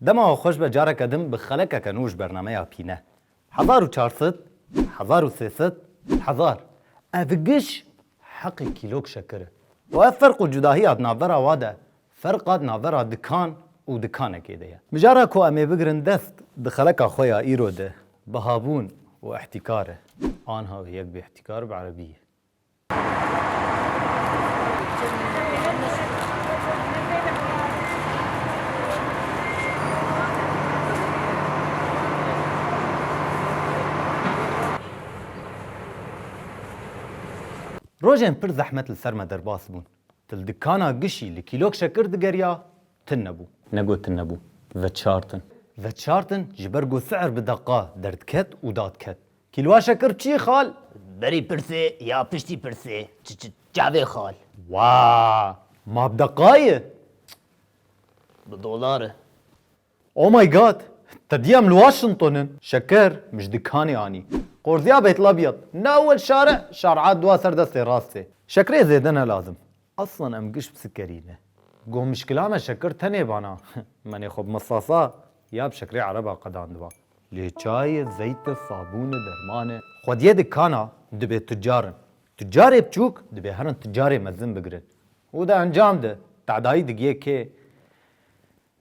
Dema we xweş be careke din bi xelekeke nû ji bernameya pîne. Hezar û çar sed, hezar û sê sed, hezar. Ev giş heqê kîlok şekir e. Û ev ferq û cudahiya di navbera wa de, ferqa di navbera dikan û dikanekê de ye. Mijara ku em ê bigirin dest di xeleka xwe ya îro de, bihabûn û îhtîkar e. Anha wê yek bê îhtîkar bi erebî ye. Rojên pir zehmet li ser me derbas bûn. Tu li dikana gişî li kîlok şekir digeriya, tin nebû. Ne got tin nebû, veçartin. Veçartin ji ber ku si'er bi deqa derdiket û dadiket. Kîlwaşe kir çî xal? Berî pirsê ya piştî pirsê çavê xal? Wa ma bi deqaye? Bi dolare. Oh my God! Te dîya em li Washington in. Şeker min ji dikanê anî. Qorzîya Beytlabîyat, newil şare, şar'a dua ser destê rastê. Şekerê zêde ne lazim. Eslan em giş bi sikerî ne. Goh mişkila me şekir tenê vana. Menê xwe bi misasa ya bi şekirê ereba qedandiba. Lê çayê, zeyte, sabûne, dermane. Xwediyê dikana dibê tucar in. Tucarê biçûk dibê herin tucarê mezin bigirin. Û di encam de tedayî digiyê kê?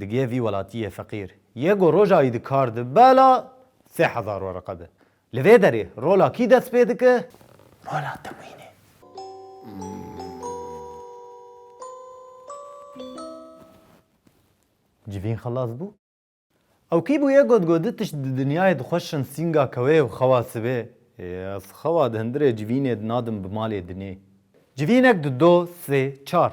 Digiye vî welatiyê feqîr ye ku roja wî di kar di bela sê hezar wereqe be. Li vê derê rola kî dest pê dike? Rola temwînê. Civîn xelas bû. Ew kî bûye got ku du tişt di dinyayê dixwe şin sînga kewê û xewa sibê. Ez xewa di hundirê civînê de nadim bi malê dinê. Civînek di do, sê, çar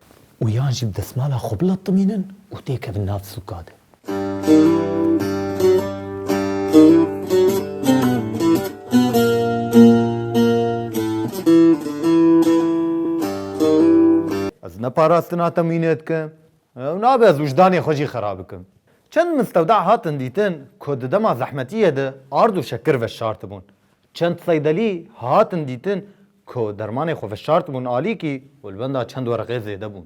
û yan jî bi desmala xwe bilatimînin û têkevin nav sûka de. Ez ne parastina te mînê dikim, ew nabe ez wijdanê xwe jî xera bikim. Çend mistewda hatin dîtin ku di dema zehmetiyê de ard û şekir veşartibûn. Çend seydelî hatin dîtin ku dermanê xwe veşart bûn alîkî û li benda çend wereqê zêde bûn.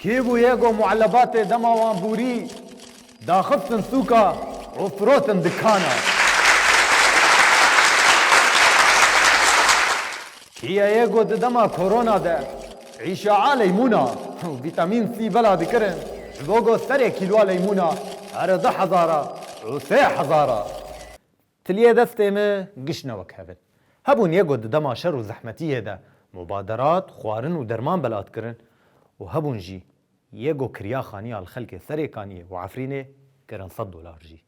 Kî bûye ku muelebatê dema wan bûrî daxistin sûka û firotin dikana? Kîya ye ku di dema korona de îşaa leymûna û vîtamîn C bela dikirin ji bo ku serê kîloa leymûna here du hezar a û sê hezar a? Tiliyê destê me giş ne wek hevin. Hebûn yê ku di dema şer û zehmetiyê de mubaderat, xwarin û derman belat kirin û hebûn jî yê ku kiriya xaniya li xelkê Serêkaniyê û Efrînê kirin sed dolar jî.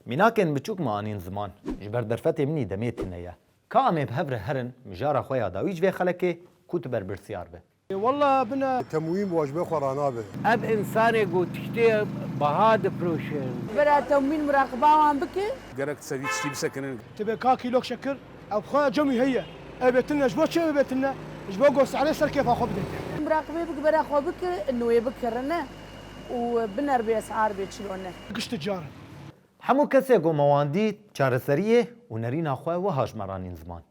Mînakên biçûk me anîn ziman. Ji ber derfetê min î demê tune ye. Ka em ê bi hev re herin mijara xwe ya dawî ji vê xelekê ku tu berpirsyar be. Ê walla bina. Temwîm wajibê xwe ranabe. Ev însanê ku tiştê biha difiroşin. Bira temwîn muraqiba wan bike. Gerek dise vî tiştî bisekinin. Ti bê ka kîlok şekir ew xwe cemî heye. Ev bê tune ji bo çi ew ê bê tune? Ji bo ku sehre ser kêfa xwe bide. Muraqibê bike bira xwe bike nûyê bikirine û bineribê ez ar bê çilo ne. Gişti carin. Hemû kesê ku me wan dît çareseriyê û nerîna xwe wiha ji me ranîn ziman.